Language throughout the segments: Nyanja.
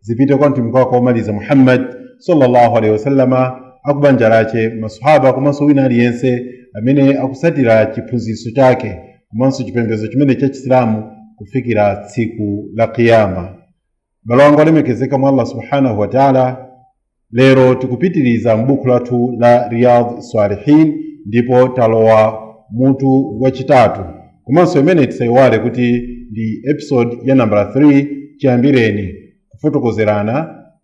zipite kwa mtumiki wake womaliza muhammad sallallahu alaihi wasallama akubanja lake masahaba komanso wina aliyense amene akusatira chiphunzitso chake komanso chipembedzo chimene cha chisilamu kufikira tsiku la kiyama abale anga olemekezeka mwa allah subhanahu wa taala Lero tikupitiriza m'buku lathu la Riyadh Salihin ndipo talowa mutu wachitatu komanso iyi imene tisayiwale kuti ndi episode ya nambala 3 chiyambireni kufotokozerana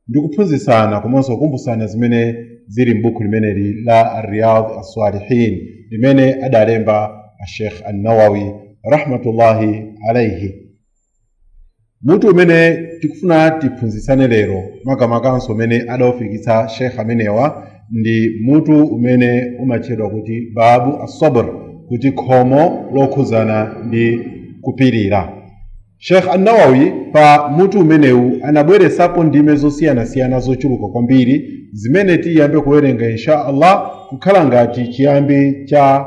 ndi kuphunzitsana komanso kukumbutsana zimene zili m'buku limeneli la Riyadh Salihin limene adalemba Sheikh An-Nawawi rahmatullahi alaihi. mutu umene tikufuna tiphunzitsane lero makamakanso umene adaufikitsa shekh amenewa ndi mutu umene umatchedwa kuti babu assabr kuti khomo lokhudzana ndi kupirira shekh annawawi pa mutu umenewu anabweretsapo ndime zosiyanasiyana zochuluka kwambiri zimene tiyambe kuwerenga insha allah kukhala ngati chiyambi cha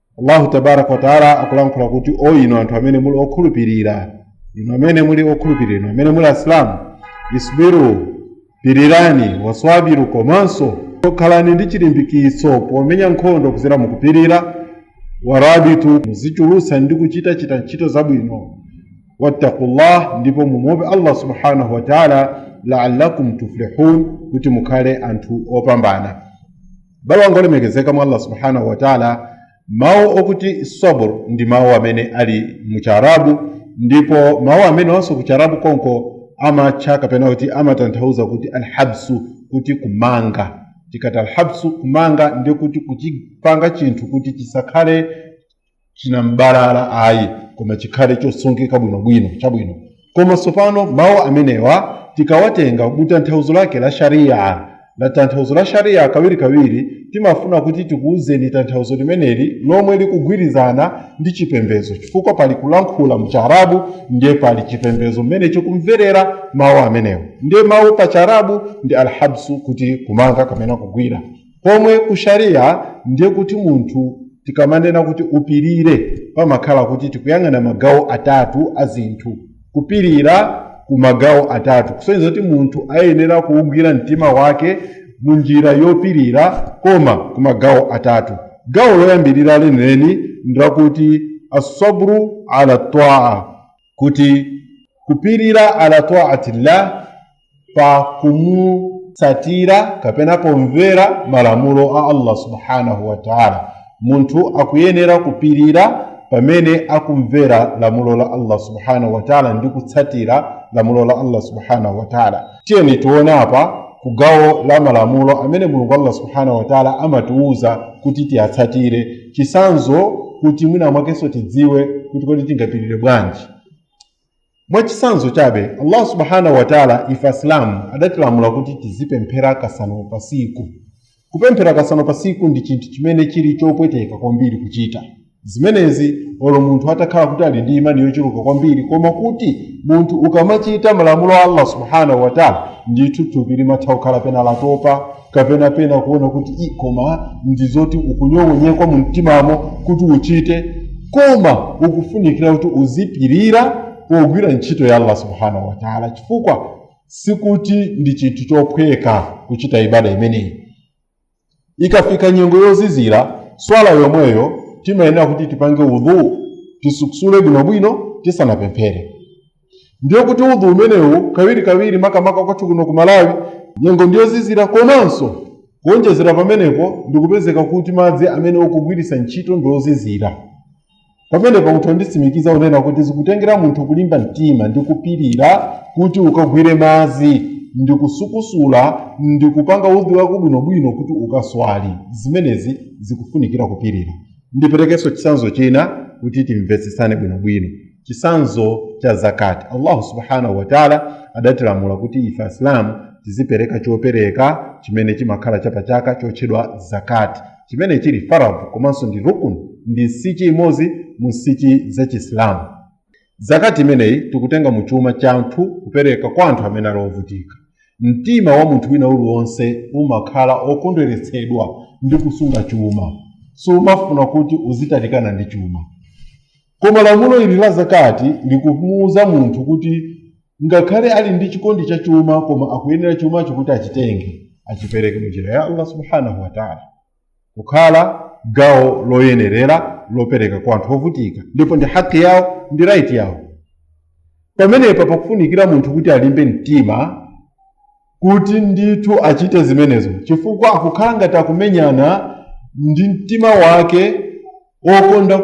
allahu tabaraka wataala akulankhula kuti o inu anthu amene muli okhulupirira inu amene muli okhulupirira inu amene muli asilamu isbiru pirirani waswabiru komanso khalani ndi chilimbikitso pomenya nkhondo kudzera mukupirira warabitu muzichulutsa ndi kuchita chita ntchito zabwino wattaqullah ndipo mumuope allah subhanahu wataala laallakum tuflihun kuti mukhale anthu opambana bale wanga olemekezeka mwa allah subhanahu wataala mawu okuti sabr ndi mawu amene ali mu chiarabu ndipo mawu amenewanso ku chiarabu konko amatcha kapena kuti amatanthauza kuti alhabsu kuti kumanga tikati alhabsu kumanga ndi kuti kuchipanga chinthu kuti chisakhale chinambalala ayi koma chikhale chosungika bwinobwino chabwino koma tsopano mawu amenewa tikawatenga kutanthauzo lake la shariya la tanthauzo la shariya kawirikawiri timafuna kuti tikuwuzeni tanthauzo limeneli lomwe likugwirizana ndi chipembedzo chifukwa pali kulankhula mcharabu ndiye pali chipembedzo mmene chikumverera mawu amenewo ndiye mawu pa charabu ndi alhabsu kuti kumanga kapena kugwira pomwe ku sharia ndiye kuti munthu tikamanena kuti upirire pamakhala kuti tikuyang'ana magawo atatu a zinthu kupirira ku magawo atatu kusonyeza kuti munthu ayenera kuugwira mtima wake mu njira yopirira koma ku magawo atatu gawo loyambirira lenileni ndilakuti assabru ala taa kuti kupirira ala taatillah pa kumutsatira kapena pomvera malamulo a allah subhanahu wa taala munthu akuyenera kupirira pamene akumvera lamulo la allah subhanahu wa taala ndi kutsatira lamulo la allah subhanahu wa taala tiyeni tione apa ku gawo la malamulo amene mulungu allah subhanahu wa taala amatiwuza kuti tiyatsatire chitsanzo kuti mwina mwakenso tidziwe kuti kodi tingapirire bwanji Mwachitsanzo chabe, Allah Subhaanah wa Ta'la ife Asilamu adatilamula kuti tizipemphera kasanu pa tsiku. Kupemphera kasanu pa tsiku ndi chinthu chimene chili chopweteka kwambiri kuchita. Zimenezi olo munthu atakhala kuti ali ndi imani yochuluka kwambiri koma kuti munthu ukamachita malamulo a Allah Subhaanah wa Ta'la ndithu thupi limatha kukhala pena latopa kapena pena kuona kuti i koma ndi zoti ukunyong'onyekwa mu mtimamo kuti uchite koma ukufunikira kuti uzipirira pogwira ntchito ya allah subhanahu wataala chifukwa sikuti ndi chinthu chophweka kuchita ibada imeneyi ikafika nyengo yozizira swala yomweyo timayenera kuti tipange udhu tisukusule bwinobwino tisanapemphere ndiye kuti udhu umenewo kawirikawiri makamaka kwathu kuno ku malawi nyengo ndiyozizira komanso kuonjezera pamenepo ndikupezeka kuti madzi amene ukugwiritsa ntchito ndiozizira pamenepo munthu nditsimikiza kunena kuti zikutengera munthu kulimba mtima ndi kupirira kuti ukagwire madzi ndi kusukusula ndi kupanga udhu wako bwinobwino kuti ukaswali zimenezi zikufunikira kupirira ndiperekenso chitsanzo china kuti timvetsetsane bwinobwino chitsanzo cha zakati allahu subhanahu wataala adatilamula kuti ife asilamu tizipereka chopereka chimene chimakhala chapachaka chotchedwa zakati chimene chili faradhu komanso ndi rukun ndi nsichi imodzi mu nsichi za chisilamu zakati imeneyi tikutenga mu chuma cha anthu kupereka kwa anthu amene ali ovutika mtima wa munthu wina uliwonse umakhala okondweretsedwa ndi kusunga chuma sumafuna kuti uzitalikana ndi chuma Koma lamulo ili la Zakaat likumuuza munthu kuti ngakhale ali ndi chikondi cha chuma koma akuyenera chumacho kuti achitenge achipereke mu njira ya Allah subhanahu wa ta'ala kukhala gawo loyenerera lopereka kwa anthu ovutika ndipo ndi haki yawo ndi right yawo pamenepa pakufunikira munthu kuti alimbe mtima kuti ndithu achite zimenezo chifukwa akukhala ngati akumenyana ndi mtima wake okonda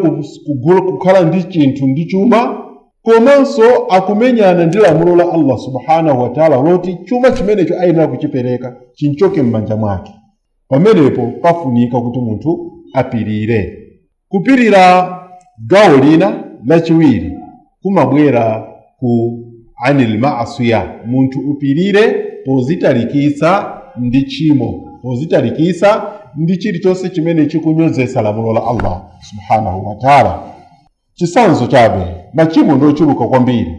kukhala ndi chinthu ndi chuma komanso akumenyana ndi lamulo la allah subhanahu wataala loti chuma chimenecho ayenera kuchipereka chimchoke m'manja mwake pamenepo pafunika kuti munthu apirire kupirira gawo lina lachiwiri kumabwera ku anil maasiya munthu upirire pozitalikitsa ndi tchimo pozitalikitsa ndi chilichonse chimene chikunyozetsa lamulo la allah subhanahu wataala chisanzo chabe machimo ndi ochuluka kwambiri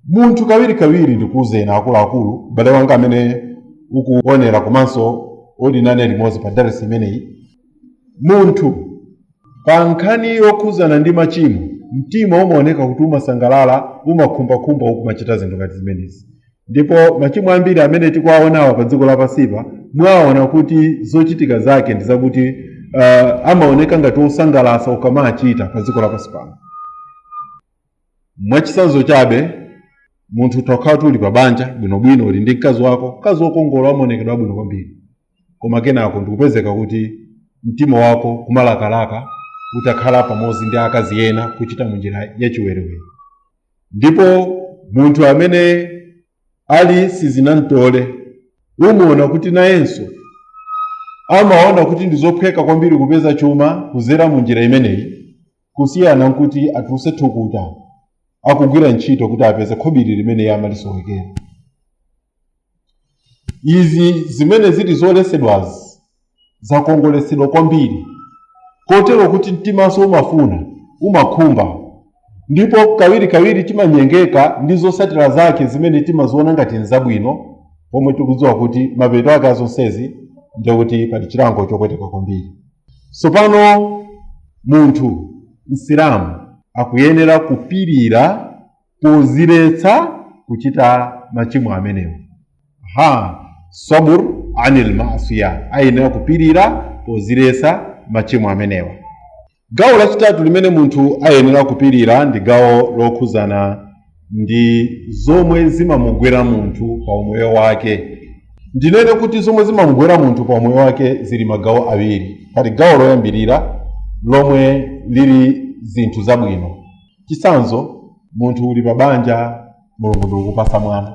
munthu kawirikawiri ndikuuzeni akuluakulu m'bale wanga amene ukuonera komanso uli nane limodzi pa darasi imeneyi Munthu. Pa nkhani yokhudzana ndi machimo, mtima umaoneka kuti umasangalala, umakhumbakhumba ukumachita zinthu ngati zimenezi. Ndipo machimo ambiri amene tikuwaonawa pa dziko lapansipa, mwaona kuti zochitika zake ndi zakuti uh, amaoneka ngati osangalatsa ukamachita pa dziko lapansi pano. Mwachitsanzo chabe, munthu utakhala kuti uli pa banja bwinobwino, uli ndi mkazi wako, mkazi wokongola wamaonekedwe abwino kwambiri. koma kenako ndikupezeka kuti mtima wako kumalakalaka utakhala pamodzi ndi akazi ena kuchita munjira yachiwerewere ndipo munthu amene ali sizinamtole umuona kuti nayenso amaona kuti ndi zophweka kwambiri kupeza chuma kuzera mu njira imeneyi kusiyana nkuti atuluse thukuta akugwira ntchito kuti apeze khobiri limene iye amalisowekera izi zimene zili zoletsedwazi zakongoletsedwa kwambiri kotero kuti mtimanso umafuna umakhumba ndipo kawirikawiri timanyengeka ndi zotsatira zake zimene timaziona ngati nzabwino pomwe tikudziwa kuti mapeto ake azonsezi ndekuti pali chilango chopweteka kwambiri tsopano munthu msilamu akuyenera kupirira poziletsa kuchita machimo amenewo ha sabur anil maasiya ayenera kupirira poziletsa machimo amenewa gawo lachitatu limene munthu ayenera kupirira ndi gawo lokhuzana ndi zomwe zimamugwera munthu pa umoyo wake ndinene kuti zomwe zimamugwera munthu pa umoyo wake zili magawo awiri pali gawo loyambirira lomwe lili zinthu zabwino chitsanzo munthu uli pa banja mulungu ndikukupasa mwana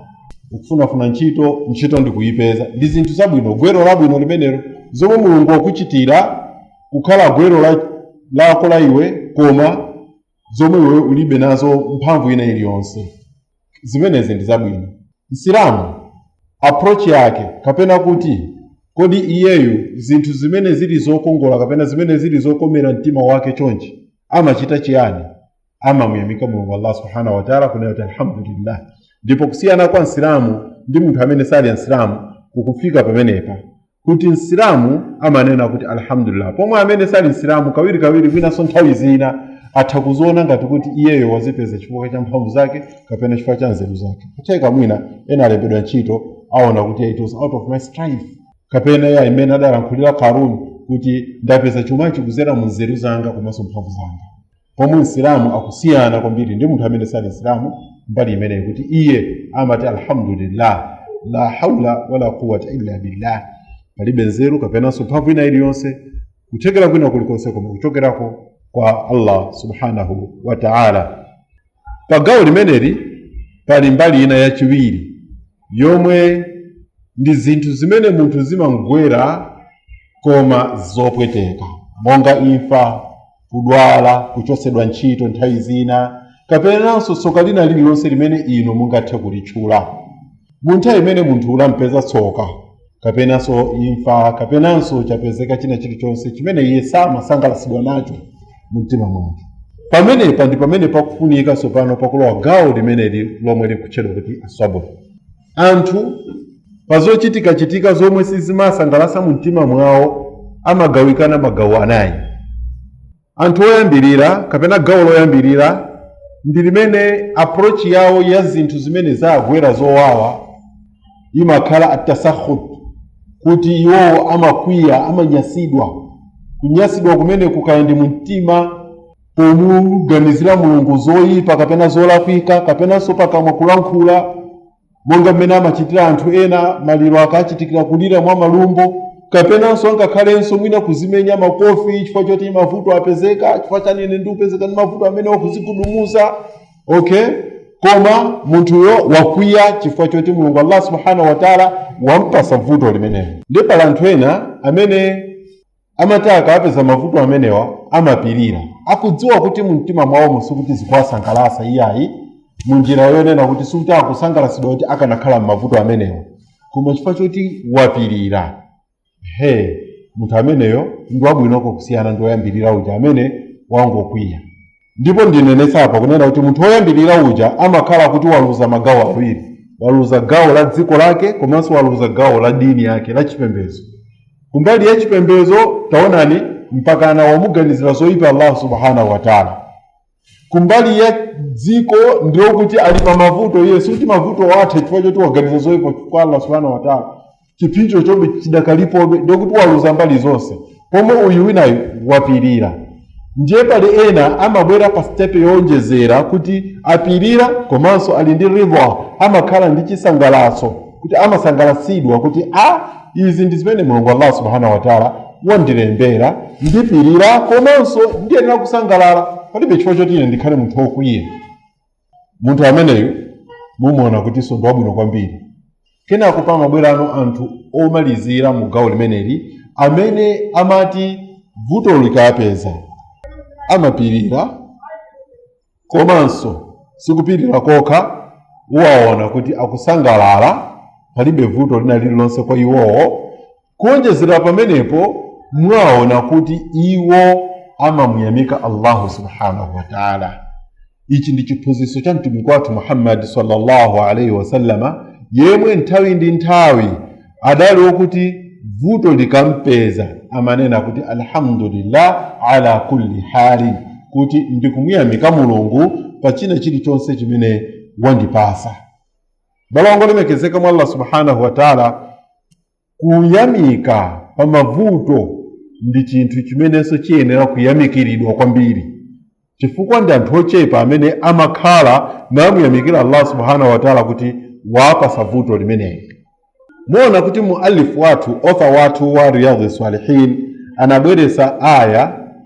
ukufunafuna ntchito ntchito ndikuyipeza ndi zinthu zabwino gwero labwino limenelo zomwe mulungu wakuchitira kukhala gwero lako la iwe koma zomwe iwe ulibe nazo mphamvu ina iliyonse zimenezi ndi zabwino msilamu approach yake kapena kuti kodi iyeyu zinthu zimene zili zokongola kapena zimene zili zokomera mtima wake chonchi amachita chiyani amamuyamika mulungu allah subhanahu wataala kunena kuti alhamdulillah ndipo kusiyana kwa msilamu ndi munthu amene sali msilamu kukufika pamenepa kuti msilamu amanena kuti alhamdulillah pomwe amene sali msilamu kawirikawiri winanso nthawi zina atha kuziona ngati kuti iyeyo wazipeza chifukwa cha mphamvu zake kapena chifukwa cha nzeru zake kutheka mwina ena alembedwa ntchito aona kuti it was out of my strife kapena ija imene adalankhulira karuni kuti ndapeza chumachi kuzera mu nzeru zanga komanso mphamvu zanga pomwe msilamu akusiyana kwambiri ndi munthu amene sali msilamu mbali imeneyi kuti iye amati alhamdulillah la haula wala quwata illa billah palibe nzeru kapenanso mphamvu ina iliyonse kuthekera kwina kulikonse koma kuchokerako kwa allah subhanahu wa taala Pa gawo limeneli pali mbali ina yachiwiri yomwe ndi zinthu zimene munthu zimamgwera koma zopweteka monga imfa kudwala kuchotsedwa ntchito nthawi zina kapenanso tsoka lina lililonse limene inu mungathe kulitchula mu nthawi imene munthu lampeza tsoka kapenanso imfa kapenanso chapezeka china chilichonse chimene iye samasangalatsidwa nacho mu mtima mwake pamenepa ndi pamene pakufunika tsopano pakulowa gawo limeneli lomwe likutchedwa kuti assabr anthu pa zochitikachitika zomwe sizimasangalatsa mu mtima mwawo amagawikana magawo anayi anthu oyambirira kapena gawo loyambirira ndi limene approach yawo ya zinthu zimene zawagwera zowawa imakhala attasakhut kuti iwowo amakwiya amanyasidwa kunyasidwa kumeneku kaya ndi mumtima pomuganizira mulungu zoyipa kapena zolakwika kapenanso pakamwa kulankhula monga mmene amachitira anthu ena maliro akachitikira kulira mwa malumbo kapenanso angakhalenso mwina kuzimenya makofi chifukwa choti mavuto apezeka chifukwa chani ine ndikupezeka ndi mavuto amenewa kuzigubuduza okay koma munthuyo wakwiya chifukwa choti mulungu allah subhanahu wataala wampasa vuto limenelo ndiye pali anthu ena amene amati akawapeza mavuto amenewa amapirira akudziwa kuti mumtima mwawomo sikuti zikuwasangalatsa iyayi munjira yonena kuti sikuti akusangalatsidwa kuti akanakhala m'mavuto amenewa koma chifukwa choti wapirira he munthu ameneyo ndi wabwinoko kusiyana ndi woyambirira uja amene wangokwiya ndipo ndinenetsa apa kunena kuti munthu woyambirira uja amakhala kuti waluza magawo awiri waluza gawo la dziko lake komanso waluza gawo la dini yake la chipembedzo kumbali ya chipembedzo taonani mpakana wamuganizira zoyipa allah subhanahu wataala kumbali ya dziko ndiye kuti ali pa mavuto iye sikuti mavutowo atha chifukwa choti waganiza zoyipa kwa allah subhanahu wataala chipsinjo chombe chidakalipobe ndiye kuti waluza mbali zonse pomwe uyu winayu wapirira ndiye pali ena amabwera pa sitepe yowonjezera kuti apirira komanso ali ndi ridha amakhala ndi chisangalatso kuti amasangalatsidwa kuti a izi ndi zimene mulungu allah subhanahu wataala wandilembera ndipirira komanso ndiyenera kusangalala palibe chifukwa choti ine ndikhale munthu wokwiya munthu ameneyu mumuona kutiso ndi wabwino kwambiri kenako pamabwerano anthu omalizira mu gawo limeneli amene amati vuto likawapeza amapirira komanso sikupirira kokha uwaona kuti akusangalala palibe vuto lina lililonse kwa iwowo kuonjezera pamenepo mwaona kuti iwo amamuyamika allahu subhanahu wataala ichi ndi chiphunzitso cha mtumiki wathu muhammadi sallallahu alaihi wasallama yemwe nthawi ndi nthawi adali wokuti vuto likampeza amanena kuti alhamdulillah ala kulli hali kuti ndikumuyamika mulungu pa china chilichonse chimene wandipasa abale olemekezeka mwa allah subhanahu wataala Kuyamika pa mavuto ndi chinthu chimenenso chiyenera kuyamikiridwa kwambiri, chifukwa ndi anthu ochepa amene amakhala namuyamikira Allah subhanahu wa ta'ala kuti wawapasa vuto limeneli. Muona kuti muallif wathu, author wathu wa Riyadh Salihin anabweresa aya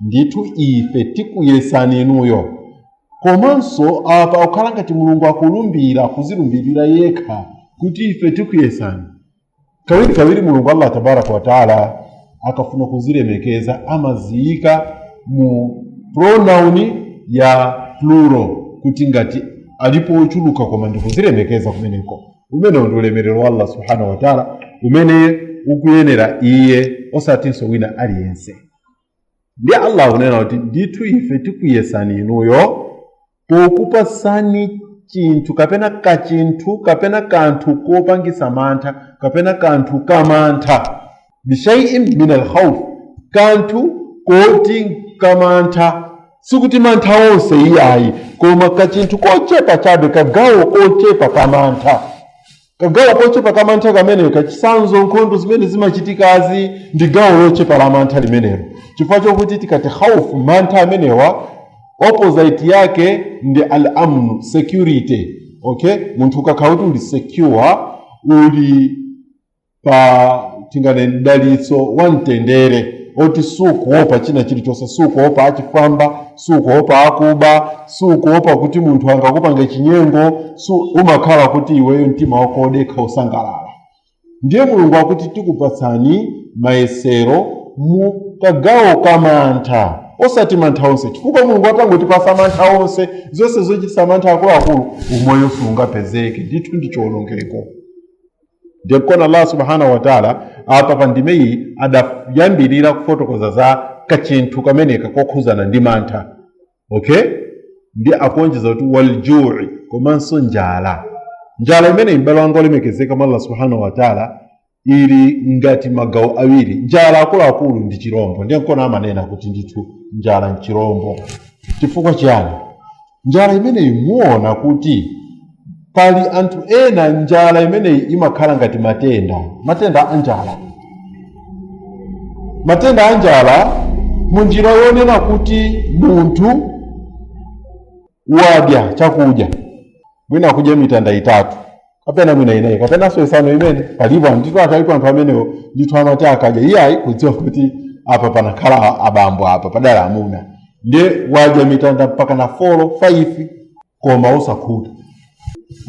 ndithu ife tikuyesani inuyo komanso apa ukhala ngati mulungu akulumbira kuzilumbirira yekha kuti ife tikuyesani kawirikawiri mulungu allah tabaraka wataala akafuna kuzilemekeza amaziyika mu pronoun ya plural kuti ngati alipo ochuluka koma ndikuzilemekeza kumeneko umenewo ndi ulemerero wa allah subhanahu wataala umene ukuyenera iye osatinso wina aliyense ndiye allah akunena kuti ndithu ife tikuyesani inuyo pokupasani chinthu kapena kachinthu kapena kanthu kopangisa mantha kapena kanthu kamantha bishaiin min alkhauf kanthu koti kamantha sikuti mantha onse iyayi koma kachinthu kochepa chabe kagawo kochepa kamantha kagawo kochepa ka mantha kameneka chisanzo nkhondo zimene zimachitikazi ndi gawo lochepa la mantha limenelo chifukwa chokuti tikati khaufu mantha amenewa opposite yake ndi al amnu security okay munthu ukakhala kuti uli secure uli pa tinene mdalitso wa mtendere oti sukuopa china chilichonse sukuopa achifwamba sukuopa akuba sukuopa kuti munthu angakupange chinyengo si umakhala kuti iweyo mtima wako wodekha usangalala ndiye mulungu akuti tikupatsani mayesero mu kagawo ka mantha osati mantha onse chifukwa mulungu atangotipasa mantha onse zonse zochitisa mantha akuluakulu umoyo siungapezeke ndithu ndi chiwonongeko ndiye nkona allah subhanahu wataala apa pa ndimeyi adayambirira kufotokoza za kachinthu kameneka kokhuzana ndi mantha okay ndi akuonjeza kuti waljui komanso njala njala imeneyi m'bale wanga olemekezeka mwa allah subhanahu wataala ili ngati magawo awiri njala akuluakulu ndi chirombo ndiye nkona amanena kuti ndithu njala nchirombo chifukwa chiyani njala imeneyi muona kuti pali anthu ena njala imeneyi imakhala ngati matenda matenda a njala matenda a njala mu njira yonena kuti munthu wadya chakudya mwina kudya mitanda itatu kapena mwina inayi kapenanso isanu imene palipo ndithu atalipo anthu amenewo ndithu amati akadya iyayi kudziwa kuti apa panakhala a- abambo apa padala amuna ndiye wadya mitanda mpaka na folo faifi koma osakhuta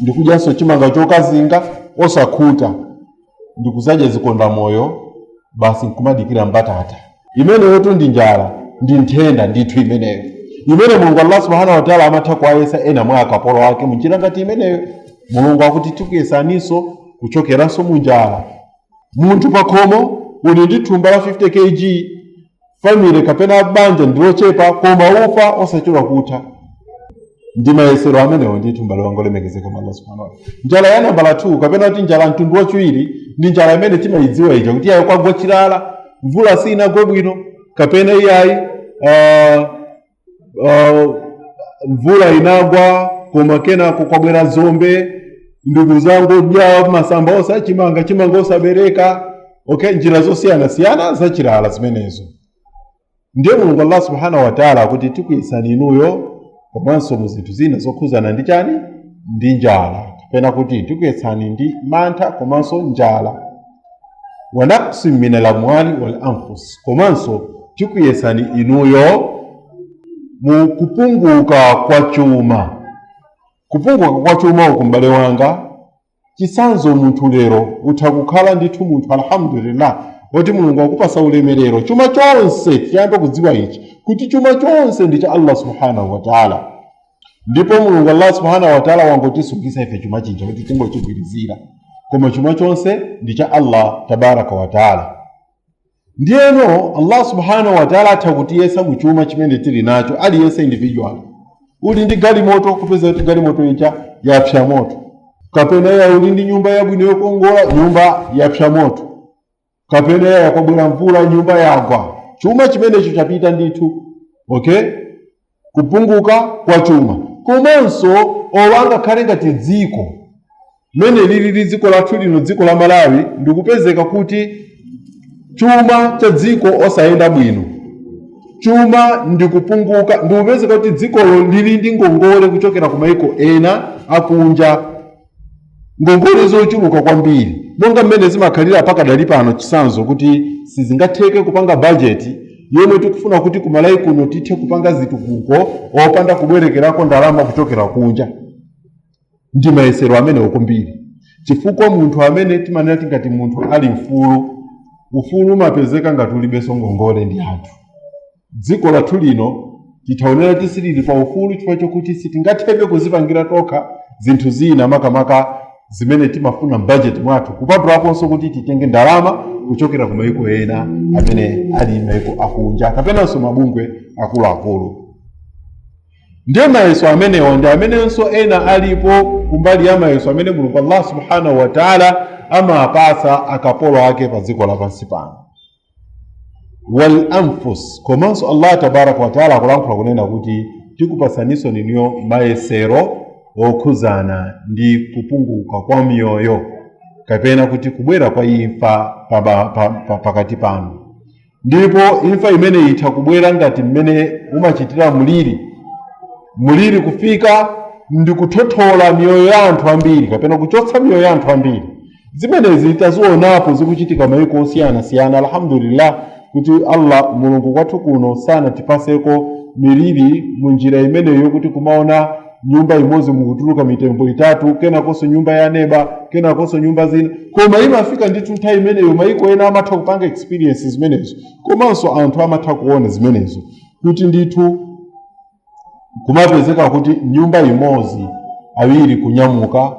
ndikudyanso chimanga chokazinga osakhuta ndikuzadya zikondamoyo basi nkumadikira mbatata imeneyotu ndi njala ndi nthenda ndithu imeneyo imene mulungu allah subhanahu wataala amatha kuwayesa ena mwa akapolo ake munjira ngati imeneyo mulungu akuti tikuyesaninso kuchokeranso munjala munthu pakhomo uli ndi thumba la 50 kg family kapena banja ndi lochepa koma ufa osachedwa kutha ndi mayesero amenewo ndithu mbale wanga olemekezeka mwa allah subhanahu wataala njala ya nambala 2 kapena kuti njala mtundu wachiwiri ndi njala imene timayidziwa ija kuti iyayi kwagwa chilala mvula siinagwe bwino kapena iyayi uh, uh, mvula inagwa koma kenako kwabwera dzombe ndikuzangodya masamba onse achimanga chimanga osabereka okay njira zosiyanasiyana zachilala zimenezo ndiye mulungu allah subhanahu wataala akuti tikuyesani inuyo komanso mu zinthu zina zokhuzana ndi chani ndi njala kapena kuti tikuyesani ndi mantha komanso njala wa naqsin min alamwali wal anfus komanso tikuyesani inuyo mu kupunguka kwa chuma kupunguka kwa chuma uku m'bale wanga chisanzo munthu lero utha kukhala ndithu munthu alhamdulillah woti mulungu wakupasa ulemerero chuma chonse tiyambe kudziwa ichi kuti chuma chonse ndi cha allah subhanahu wataala ndipo mulungu allah subhanahu wataala wangotisungisa ife chuma chija kuti tingochigwirizira koma chuma chonse ndi cha allah tabaraka wataala ndiyeno allah subhanahu wataala atha kutiyesa mu chuma chimene tili nacho aliyense individual uli ndi galimoto kupeza kuti galimoto ija yapsa moto kapena ya uli ndi nyumba yabwino yokongola nyumba yapsa moto kapena ya kwabwera mvula nyumba yagwa chuma chimenecho chapita ndithu okay kupunguka kwa chuma komanso olo angakhale ngati dziko mmene lilili dziko lathu lino dziko la malawi ndikupezeka kuti chuma cha dziko osayenda bwino chuma ndikupunguka ndikupezeka kuti dzikolo lili ndi ngongole kuchokera ku maiko ena akunja ngongole zochuluka kwambiri monga mmene zimakhalira pakadali pano chitsanzo kuti sizingatheke kupanga bajeti yomwe tikufuna kuti ku malawi kuno tithe kupanga zitukuko opanda kubwerekerako ndalama kuchokera kunja ndi mayesero amenewo kwambiri chifukwa munthu amene timanena tingati munthu ali mfulu ufulu umapezeka ngati ulibenso ngongole ndi anthu Dziko lathu lino titha kuona kuti silili pa ufulu chifukwa chokuti sitingathebe kuzipangira tokha zinthu zina makamaka zimene timafuna mbajeti mwathu kupatulakonso kuti titenge ndalama kuchokera ku mayiko ena amene ali mayiko akunja kapenanso mabungwe akuluakulu ndiye mayeso amenewa ndi amenenso ena alipo kumbali ya mayeso amene mulungu allah subhanahu wataala amapatsa akapolo ake pa dziko lapansi pano wal anfus komanso allah tabaraka wataala akulankhula kunena kuti tikupatsaninso ninuyo mayesero okhuzana ndi kupunguka kwa miyoyo kapena kuti kubwera kwa imfa pakati panu ndipo imfa imeneyi itha kubwera ngati mmene umachitira mliri mliri kufika ndi kuthothola miyoyo ya anthu ambiri kapena kuchotsa miyoyo ya anthu ambiri zimenezi tazionapo zikuchitika maiko osiyanasiyana alhamdulillah kuti allah mulungu kwathu kuno sanatipatseko miliri mu njira imeneyo kuti kumaona nyumba imodzi mukutuluka mitembo itatu kenakonso nyumba ya neba kenakonso nyumba zina koma imafika ndithu nthawi imeneyo maiko ena amatha kupanga experience zimenezo komanso anthu amatha kuona zimenezo kuti ndithu kumapezeka kuti nyumba imodzi awiri kunyamuka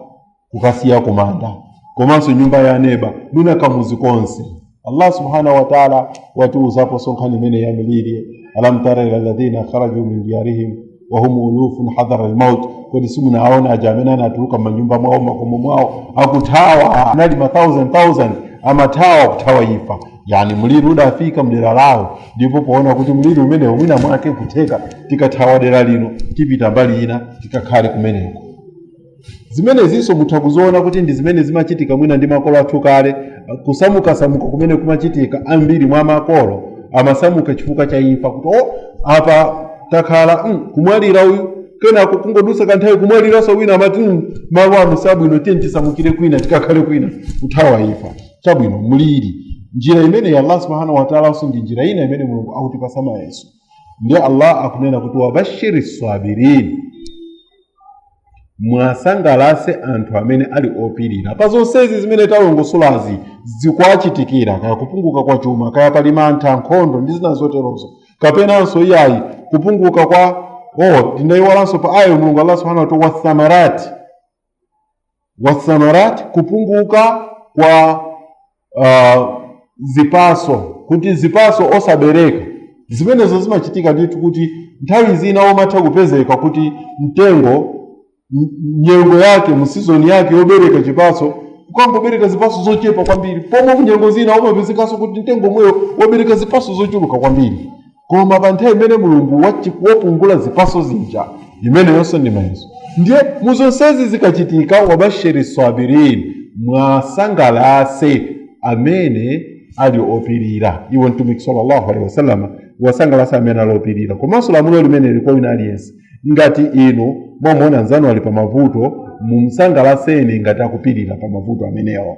kukasiya kumanda komanso nyumba ya neba mwina kamuzi konse allah subhanahu wa taala watiuzapo zankhani imene ya miliri alam tara ila ladhina kharaju min diyarihim wahum ulufun hadhara lmaut kodi simunaone aja amene anatuluka manyumba mwawo makomo mwawo akuthawa anali ma 1000 amathawa kuthawa ifa yani mliri udafika mdera lawo ndipo poona kuti mliri umenewo mwina mwake kutheka tikathawa dera lino tipita mbali ina tikakhale kumeneko zimenezinso mutha kuziona kuti ndi zimene zimachitika mwina ndi makolo athu kale kusamukasamuka kumene kumachitika ambiri mwa makolo amasamuka chifukwa cha imfa kuti o apa takhala mm, kumwalira uyu kenako kungodusa kanthawi kumwaliranso wina amati mm, malo ano sabwino tiye tisamukire kwina tikakhale kwina kuthawa imfa chabwino mliri njira imeneyi allah subhanahu wataalanso ndi njira ina imene mulungu akutipasa mayeso ndiye allah akunena kuti wabashiri sabirini mwasangalase anthu amene ali opirira pa zonsezi zimene talongosolazi zikuwachitikira kaya kupunguka kwa chuma kaya pali mantha nkhondo ndi zina zoterozo kapenanso iyayi kupunguka kwa oh tinayiwalanso pa ayayo mulungu allah subhanahu wataala wathamarati wathamarat kupunguka kwa uh, zipaso kuti zipaso osabereka zimenezo zimachitika ndithu kuti nthawi zina umatha kupezeka kuti mtengo m- nyengo yake musizoni yake yobereka chipaso ukangobereka zipaso zochepa kwambiri pomwe kunyengo zina umapezekanso kuti mtengo omwewo wabereka zipaso zochuluka kwambiri koma pa nthawi imene mulungu wachi- wapungula zipaso zija imeneyonso ndi mayeso ndiye muzonsezi zikachitika wabashiri sabirin mwasangalase amene ali opirira iwo mtumiki sallallahu alaihi wasallam wasangalase amene ali opirira komanso lamulo limeneli kwa wina aliyense ngati inu mwamuona nzanu ali pa mavuto mumsangalaseni ngati akupirira pa mavuto amenewo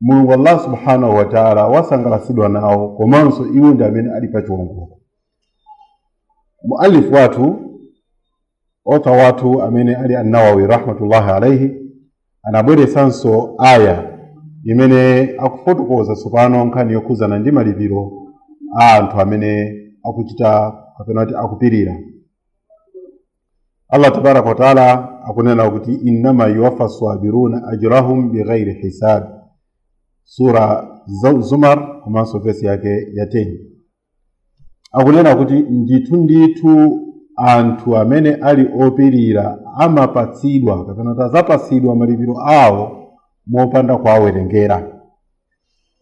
mulungu allah subhanahu wa taala wasangalatsidwa nawo komanso iwo ndi amene ali pa chiwongoko mualifu wathu author wathu amene ali annawawi rahmatullahi alaihi anabweretsanso aya imene akufotokoza tsopano nkhani yokhudzana ndi malipiro a anthu amene akuchita kapena kuti akupirira allah tabaraka wataala akunena kuti innama yuwafa sabiruna ajrahum bighairi hisab sura Za- zumar komanso vesi yake ya 10 akunena kuti ndithu ndithu anthu amene ali opirira amapatsidwa kapena azapatsidwa malipiro awo mopanda kuwawerengera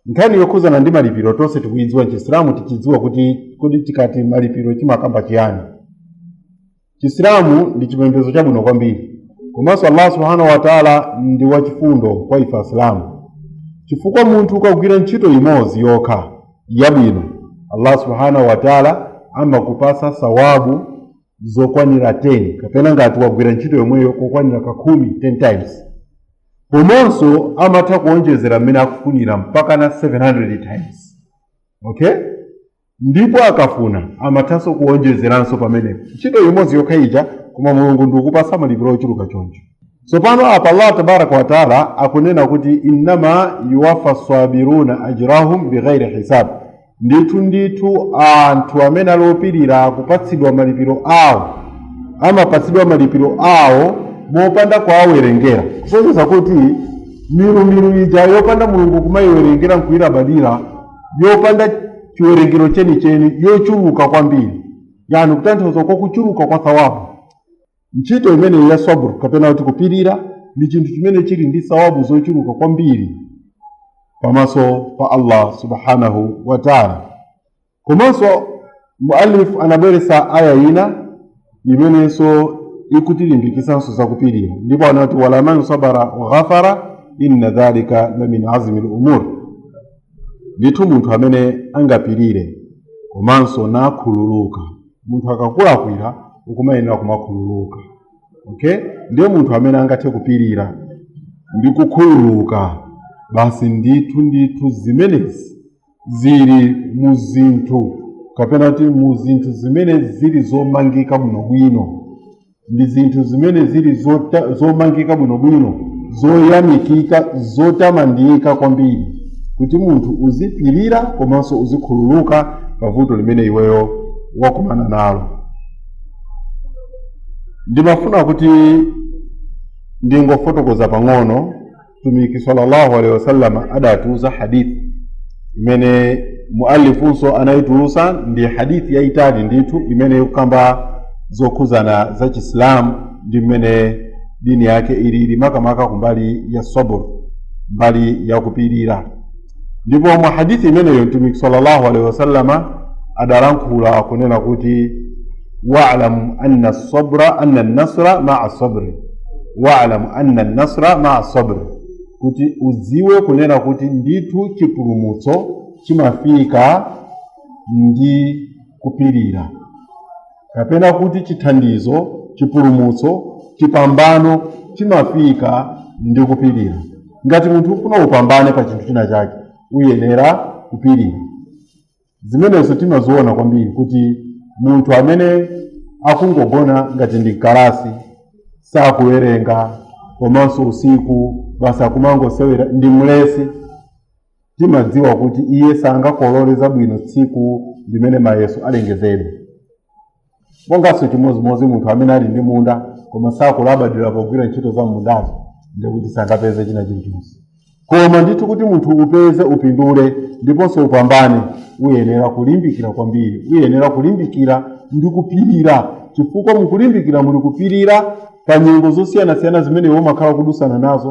nkhani yokhudzana ndi malipiro tonse tikuyidziwa m'chisilamu tichidziwa kuti kodi tikati malipiro chimakamba chiyani chisilamu ndi chipembedzo chabwino kwambiri komanso allah subhanahu wataala ndi wachifundo kwa ife asilamu chifukwa munthu ukagwira ntchito imodzi yokha yabwino allah subhanahu wataala amakupasa sawabu zokwanira 10 kapena ngati wagwira ntchito yomweyo kokwanira kakhumi 10 times komanso amatha kuonjezera mmene akufunira mpaka na 700 times okay ndipo akafuna amathanso kuonjezeranso pamenepo ntchito imodzi yokha ija koma mulungu ndikupasa malipiro ochuluka choncho tsopano apa allah tabaraka wataala akunena kuti innama yuwafa sabiruna ajrahum bighairi hisab ndithu ndithu anthu amene ali opirira kupatsidwa malipiro awo amapatsidwa malipiro awo mopanda kuwawerengera kusonyeza kuti milumilu ija yopanda mulungu kumayiwerengera nkuyilabadira yopanda chiwerengero chenicheni yochuluka kwambiri yani kutanthauza kwa kuchuluka kwa thawabu ntchito imeneyi ya sabr kapena kuti kupirira ndi chinthu chimene chili ndi sawabu zochuluka kwambiri pamaso pa allah subhanahu wa taala komanso muallif anabweretsa aya ina imenenso ikutilimbikitsanso zakupirira ndipo anati walaman sabara wa ghafara inna dhalika la min azmi lumur ndithu munthu amene angapirire komanso nakhululuka munthu akakulakwira ukumayenera kumakhululuka okay ndiye munthu amene angathe kupirira ndi kukhululuka basi ndithu ndithu zimenezi zili mu zinthu kapena kuti mu zinthu zimene zili zomangika bwinobwino ndi zinthu zimene zili zomangika bwinobwino zoyamikika zotamandika kwambiri kuti munthu uzipirira komanso uzikhululuka pa vuto limene iweyo wakumana nalo ndimafuna kuti ndingofotokoza pang'ono mtumiki sallallahu alaihi wasallam adatiuza hadithi imene muallifunso anayitulusa ndi hadithi yayitali ndithu imene ikukamba zokhuzana za chisilamu ndi mmene dini yake ilili makamaka kumbali ya sabur mbali ya kupirira ndipo mu hadithi imeneyo mtumiki sallallahu alaihi wasallama adalankhula kunena kuti wa'lam anna sabra anna nasra ma'a sabri wa'lam anna nasra ma'a sabri kuti udziwe kunena kuti ndithu chipulumutso chimafika ndi kupirira kapena kuti chithandizo chipulumutso chipambano chimafika ndi kupirira ngati munthu ufuna upambane pa chinthu china chake uyenera kupirira zimenezo timaziona kwambiri kuti munthu amene akungogona ngati ndi kalasi sakuwerenga komanso usiku basi akumangosewera ndi mlesi Timadziwa kuti iye sangakolole zabwino tsiku limene mayeso alengezedwe. Monganso chimodzimodzi munthu amene ali ndi munda koma sakulabadira pogwira ntchito za m'mundazo ndiye kuti sangapeze china chilichonse. Koma ndithu kuti munthu upeze upindule ndiponso upambane uyenera kulimbikira kwambiri, uyenera kulimbikira ndi kupirira chifukwa mukulimbikira muli kupirira pa nyengo zosiyanasiyana zimene iwe umakhala ukudusana nazo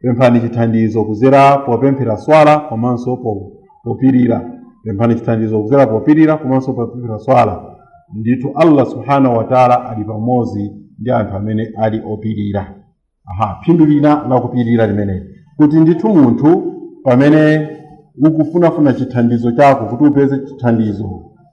Pemphani chithandizo kuzera popemphera swala komanso po- popirira. Pemphani chithandizo kuzera popirira komanso popemphera swala. Ndithu Allah subhanahu wa ta'ala ali pamodzi ndi anthu amene ali opirira. Aha, phindu lina la kupirira limeneli kuti ndithu munthu pamene ukufunafuna chithandizo chako kuti upeze chithandizo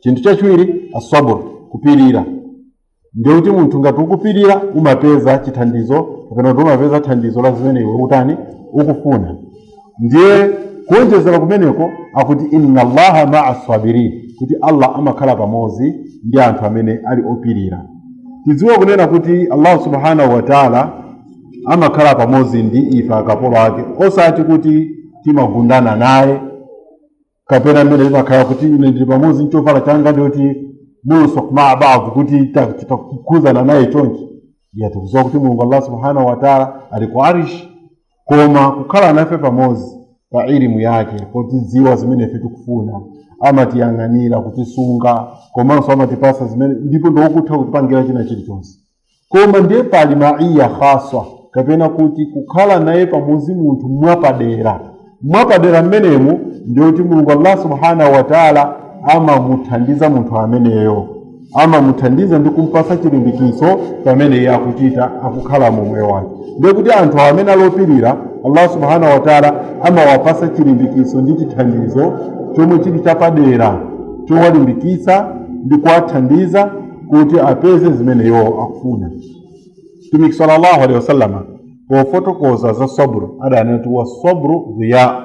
chinthu chachiwiri asabr kupirira ndiye kuti munthu ngati ukupirira umapeza chithandizo kapena kuti umapeza thandizo la zimene iwe utani ukufuna ndiye kuonjezera kumeneko akuti inna allaha maa sabirin kuti allah amakhala pamodzi ndi anthu amene ali opirira tidziwe kunena kuti allahu subhanahu wa taala amakhala pamodzi ndi ife akapolo ake osati kuti timagundana naye kapena mmene timakhala kuti ine ndili pamodzi ndi chovala changa ndiyoti mulsok maa baadhi kuti ta- tikakhudzana naye chonchi iyayi tikudziwa kuti mulungu allah subhanahu wataala ali ku arishi koma kukhala nafe pamodzi pa ilimu yake potidziwa zimene ife tikufuna amatiyang'anira kutisunga komanso amatipasa zimene ndipo ndi wokutha kutipangira china chilichonse koma ndiye pali maiya khaswa kapena kuti kukhala naye pamodzi munthu mwapadera mwapadera mmenemu ndiyoti mulungu allah subhanahu wataala amamuthandiza munthu ameneyo amamuthandiza ndi kumpasa chilimbikiso pamene iye akuchita akukhala mu moyo wake ndiye kuti anthu amene alopirira allah subhanahu wataala amawapasa chilimbikiso ndi chithandizo chomwe chili chapadera chowalimbikitsa ndi kuwathandiza kuti apeze zimene iwo akufuna mtumiki sallallahu alaihi wasallama pofotokoza za sabru adanena kuti wasabru dhiya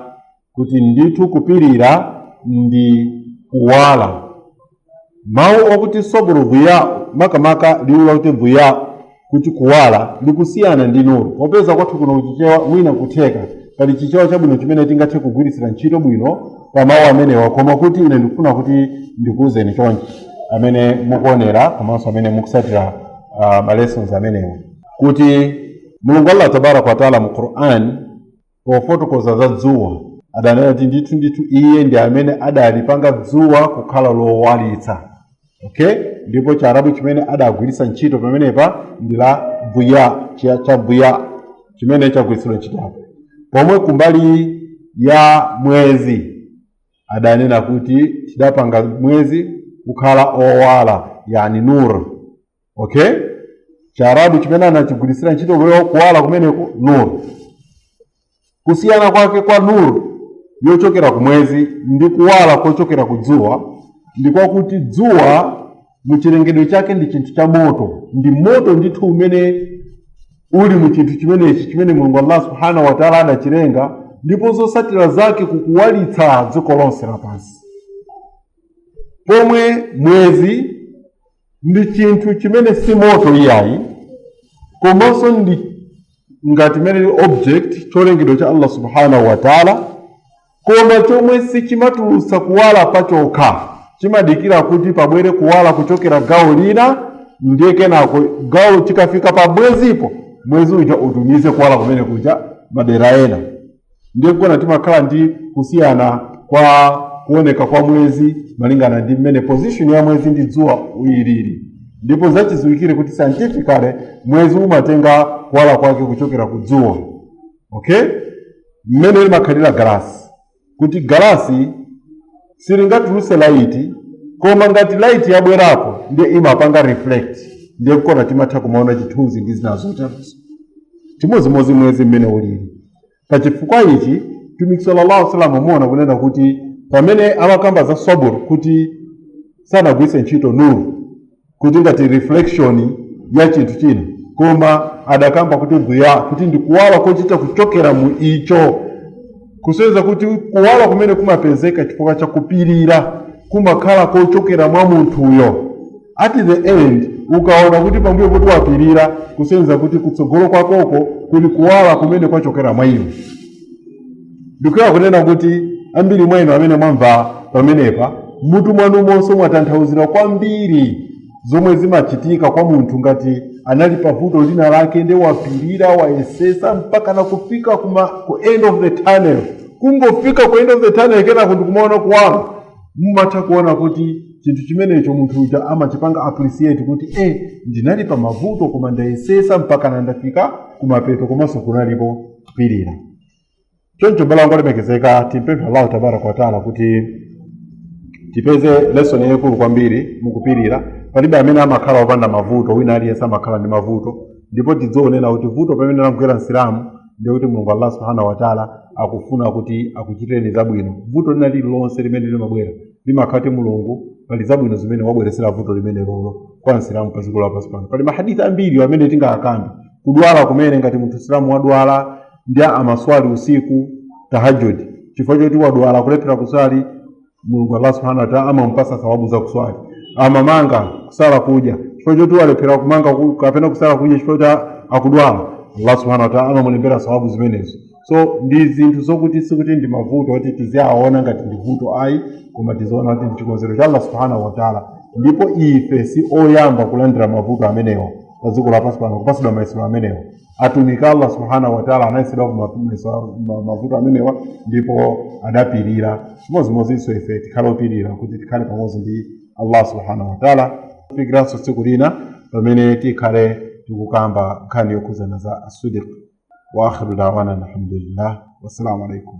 kuti ndithu kupirira ndi kuwala mawu okuti sabru dhiya makamaka liwu lakuti dhiya kuti kuwala likusiyana ndi nuru popeza kwathu kuno kuchichewa mwina nkutheka pali chichewa chabwino chimene tingathe kugwiritsira ntchito bwino pa mawu amenewa koma kuti ine ndikufuna kuti ndikuwuzeni chonchi amene mukuonera komanso amene mukutsatira uh, ma lessons amenewa kuti mulungu allah tabaraka wataala mu quran pofotokoza za dzuwa adanena kuti ndithu ndithu iye ndi amene adalipanga dzuwa kukhala lowalitsa okay ndipo chiarabu chimene adagwiritsa ntchito pamenepa ndi la dhiya cha cha dhiya chimene chagwiritsidwa ntchito apo pomwe kumbali ya mwezi adanena kuti tidapanga mwezi kukhala owala yani nur okay chiarabu chimene anachigwiritsira ntchito kuyo kuwala kumeneko nur kusiyana kwake kwa nur yochokera ku mwezi ndi kuwala kochokera ku dzuwa ndi kwakuti dzuwa mu chilengedwe chake ndi chinthu cha moto ndi moto ndithu umene uli mu chinthu chimenechi chimene mulungu allah subhanahu wa taala adachilenga ndipo zotsatira zake likuwalitsa dziko lonse lapansi pomwe mwezi ndi chinthu chimene si moto iyayi komanso ndi ngati mmene ili object cholengedwa cha allah subhanahu wa taala koma chomwe sichimatulutsa kuwala pachokha chimadikira kuti pabwere kuwala kuchokera gawo lina ndiye kenako gawo chikafika pa mwezipo mwezi uja utumize kuwala kumene kuja madera ena ndiye nkuona timakhala ndi kusiyana kwa kuoneka kwa mwezi malingana ndi mmene position ya mwezi ndi dzuwa ilili ndipo zachidziwikire kuti scientifically mwezi umatenga kuwala kwake kuchokera ku dzuwa okay mmene limakhalira galasi kuti galasi silingatulutse laiti koma ngati laiti yabwerapo ndiye imapanga reflect ndiye nkuona timatha kumaona chithunzi ndi zina zoterozo chimodzimodzi mwezi mmene ulili pa chifukwa ichi mtumiki sallallahu alaihi wasallam muona kunena kuti pamene amakamba za sabur kuti sanagwiritse ntchito nuru kuti ngati reflection ya chinthu china koma adakamba kuti dhiya kuti ndi kuwala kochita kuchokera mu icho kusonyeza kuti kuwala kumene kumapezeka chifukwa cha kupirira kumakhala kochokera mwa munthuyo at the end ukaona kuti pambuyo poti wapirira kusonyeza kuti kutsogolo kwakoko kuli kuwala kumene kwachokera mwa iwe ndikuyenera kunena kuti ambiri mwa inu amene mwamva pamenepa mmutu mwanumonso mwatanthauzira kwambiri zomwe zimachitika kwa munthu ngati anali pa vuto lina lake nde wapirira wayesesa mpaka nakufika kuma ku end of the tunnel kungofika ku end of the tunnel kenako ndikumaona kuwala mumatha kuona kuti chinthu chimenecho munthu uja amachipanga appreciate kuti eh ndinali pa mavuto koma ndayesesa mpaka ndafika kumapeto komanso kunalipo kupirira choncho abale anga olemekezeka timpemphe allahu tabaraka wataala kuti tipeze lesson yayikulu kwambiri mukupirira palibe amene amakhala opanda mavuto wina aliyense amakhala ndi mavuto ndipo tidziona kuti vuto pamene lamugwera msilamu ndiye kuti mulungu allah subhanahu wataala akufuna kuti akuchitireni zabwino vuto lina lililonse limene limabwera limakhala kuti mulungu pali zabwino zimene wabweretsera vuto limenelolo kwa msilamu pa dziko lapansi pano pali mahadithi ambiri amene tingakambe kudwala kumene ngati munthu msilamu wadwala ndi amaswali usiku tahajjud chifukwa choti wadwala kulephera kuswali mulungu allah subhanahu wa ta'ala amamupatsa sawabu za kuswali amamanga kusala kudya chifukwa choti walephera kumanga ku- kapena kusala kudya chifukwa choti akudwala allah subhanahu wa ta'ala amamulembera sawabu zimenezo so ndi zinthu zokuti sikuti ndi mavuto oti tiziaona ngati ndi vuto ayi koma tiziona kuti ndi chikonzero cha allah subhanahu wa ta'ala ndipo ife si oyamba kulandira mavuto amenewa pa dziko lapansi pano kupatsidwa mayesero amenewa atumiki a allah subhanahu wataala anayesedwa ku ma- mayeso- ma- mavuto amenewa ndipo adapirira chimodzimodzinso ife tikhale opirira kuti tikhale pamodzi ndi allah subhanahu wataala kufikiranso tsiku lina pamene tikhale tikukamba nkhani yokhudzana za as-sidq wa akhiru dawana alhamdulillah wassalamu alaikum